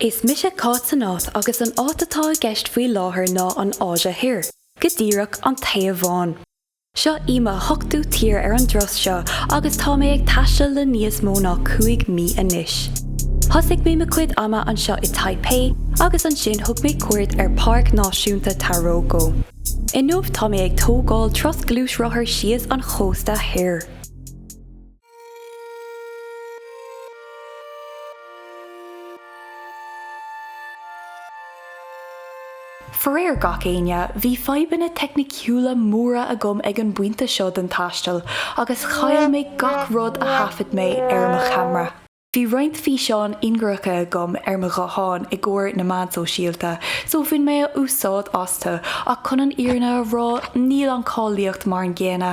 Is mise Cáit san Áit agus an áit atá i gceist faoi láthair ná an Áise Thoir, go díreach, an Téaváin. Seo í mo hochtú tír ar an dturas seo agus tá mé ag taisteal le níos mó ná cúig mí anois. Thosaigh mé mo chuid ama anseo i Taipei agus ansin thug mé cuairt ar Páirc Náisiúnta Taroko. Inniu tá mé ag tógáil turas gluaisrothair síos an chósta thoir. Faraor gach éinne, bhí fadhbanna teicniciúla móra agam ag an bpointe seo den taisteal agus chaill mé gach rud a thaifead mé ar mo cheamra. Bhí roinnt físeáin ingearacha agam ar mo ghuthán i gcomhair na meán sóisialta so bhain mé úsáid astu ach chun an fhírinne a rá níl an cáilíocht mar an gcéanna.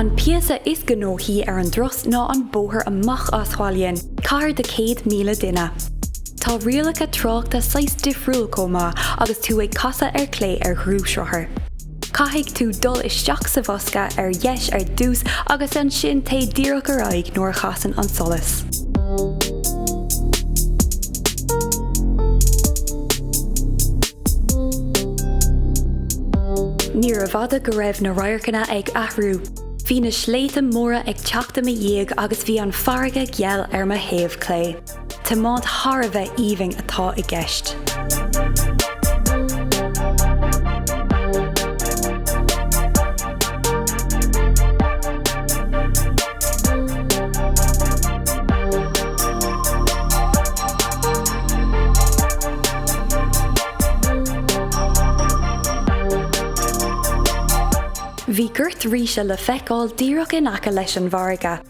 An píosa is gnóthaí ar an dturas ná an bóthar amach as Hualien, cathair de 100,000 duine. Tá rialacha tráchta saghas difriúil chomh maith agus tú ag casadh ar clé ar ghluaisrothar. Caithfidh tú dul isteach sa bhosca ar dheis ar dtús agus ansin téigh díreach ar aghaidh nuair a chasann an solas. Níorbh fhada go raibh na radharcanna ag athrú. Bhí na sléibhte móra ag teacht i mo dhiaidh agus bhí an farraige geal ar mo thaobh clé. Tiomáint thar a bheith aoibhinn atá i gceist. Bhí gort ríse le feiceáil díreach in aice leis an bhfarraige.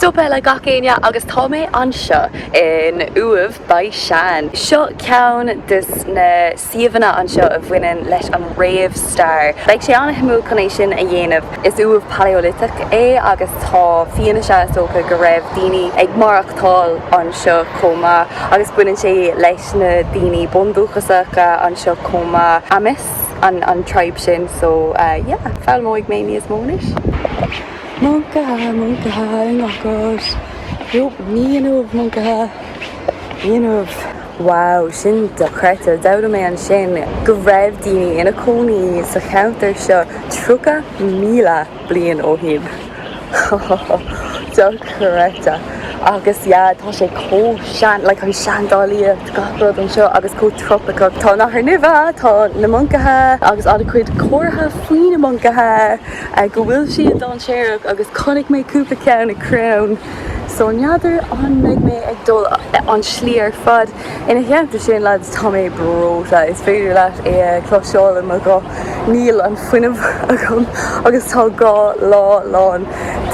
Stop eile gach éinne agus tá mé anseo in Uaimh Baxian. Seo ceann des na suíomhanna anseo a bhaineann leis an réamh-stair. Beidh sé an-shuimiúil chun é sin a dhéanamh. Is uaimh Palaeoliteach é agus tá fianaise is dócha go raibh daoine ag maireachtáil anseo chomh maith agus baineann sé leis na daoine bundúchasacha anseo chomh maith. Amis an tribe sin so yeah foghlaimeoidh mé níos mó anois. Moncaithe, moncaithe i ngach áit. Nope, ní inniu, moncaithe. Ní inniu. Wow, sin dochreidte. D'fhoghlaim mé ansin go raibh daoine ina cónaí sa cheantar seo 30,000 bliain ó shin. Dochreidte. Agus yeah, tá sé chomh sean, like an seandálaíocht, gach rud anseo agus chomh trópaiceach. Tá nathair nimhe, tá na moncaithe agus an-chuid comharthaí faoi na moncaithe. go bhfuil siad dainséarach agus chonaic mé cúpla ceann ar chrann so n'fheadar an mbeidh mé ag dul an slí ar fad ina theannta sin lads tá mé breoite is féidir leat é a chloisteáil i mo ghuth níl an fuinneamh agam agus tá dhá lá lán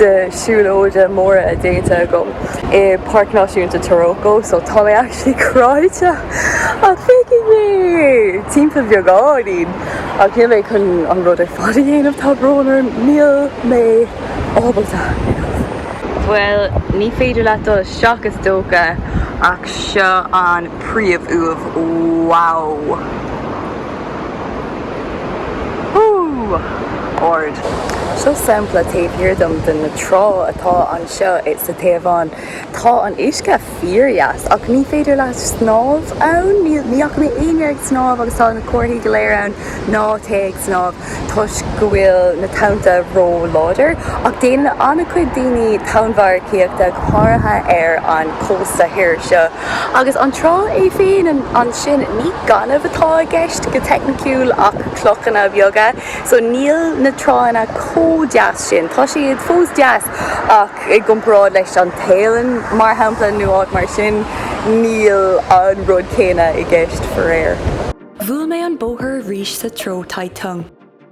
de siúlóide móra déanta agam i Páirc Náisiúnta Taroko so tá mé actually cráite ach feicfidh mé timpeall beagáinín. Ach níl mé chun an rud ar fad a dhéanamh, tá brón orm, níl mé ábalta. Bhuel, ní féidir leat dul isteach is dócha ach seo an príomh-uaimh, wow! Ard. Seo sampla taobh thiar dom de na tránna atá anseo sa Téaváin. Tá an uisce. fíordheas. Ach ní féidir leat snámh ann? Ní fhaca mé éinne ag snámh agus tá na comharthaí go léir ann ná téigh ag snámh toisc go bhfuil na tonnta ró-láidir. Ach déanann an-chuid daoine tonnmharcaíochta, go háirithe ar an chósta thoir seo. Agus an trá é féin ansin, ní gaineamh atá i gceist go teicniciúil ach clochanna beaga. So níl na tránna chomh deas sin. Tá siad fós deas. ach i gcomparáid leis an Téalainn, mar shampla, nó áit mar sin, níl an rud céanna i gceist, faraor. Bhuail mé an bóthar arís sa treo Taitung.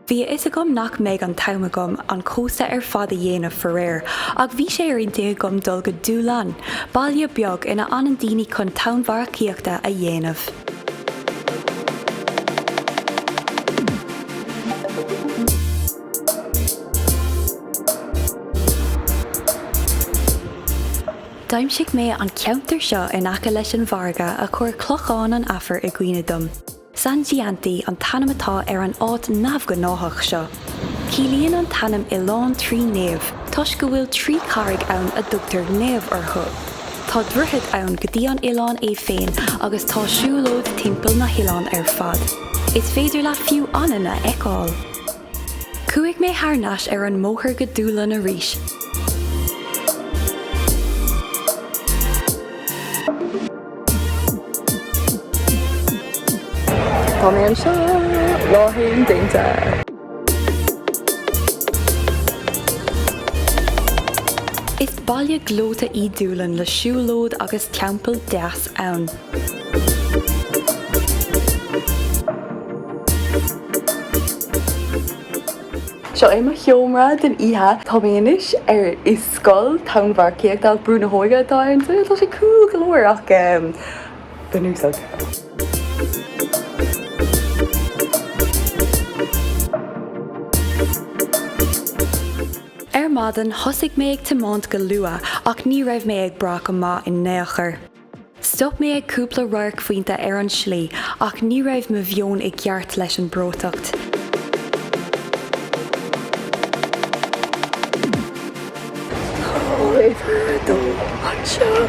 Bhí a fhios agam nach mbeidh an t-am agam an cósta ar fad a dhéanamh, faraor, ach bhí sé ar intinn agam dul go Dulan, baile beag ina fhanann daoine chun tonnmharcaíochta a dhéanamh. D'aimsigh mé an ceantar seo in aice leis an bhfairrge a chuir Clochán an Aifir i gcuimhne dom. Sanxiantai an t-ainm atá ar an áit neamhghnáthach seo. Ciallaíonn an t-ainm Oileán Trí Naomh toisc go bhfuil trí carraig ann a dtugtar Naomh orthu. Tá droichead ann go dtí an oileán é féin agus tá siúlóid timpeall na hoileáin ar fad. Is féidir leat fiú anainn a fheiceáil. Chuaigh mé thar nais ar an mbóthar go Dúlainn arís. Tá mé anseo! Lá haon déanta! Is baile gleoite í Dúlainn le siúlóid agus teampall deas ann. Seo é mo sheomra den oíche. Tá mé anois ar i Scoil Tonnmharcaíochta ach Brú na hÓige atá inti. Tá sé cool go leor ach bunúsach. Ar maidin thosaigh mé ag tiomáint go luath ach ní raibh mé ag brath go maith in aon chor. Stop mé ag cúpla radharcphointe ar an slí ach ní raibh mo mheon i gceart leis an breoiteacht. Tabharfar dó anseo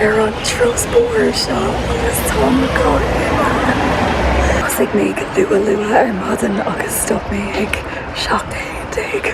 ar an turas bóthair seo agus tá mo chathair ag. Thosaigh mé go luath luath ar maidin agus stop mé ag seacht déag.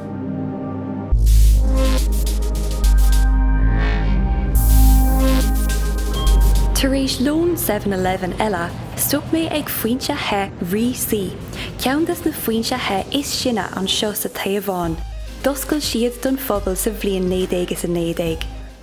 Tar éis lón Seven Eleven eile, stop mé ag foinse the Ruisui, ceann des na foinse the is sine anseo sa Téaváin. D'oscail siad don phobal sa bhliain naoi déag is a naoi déag.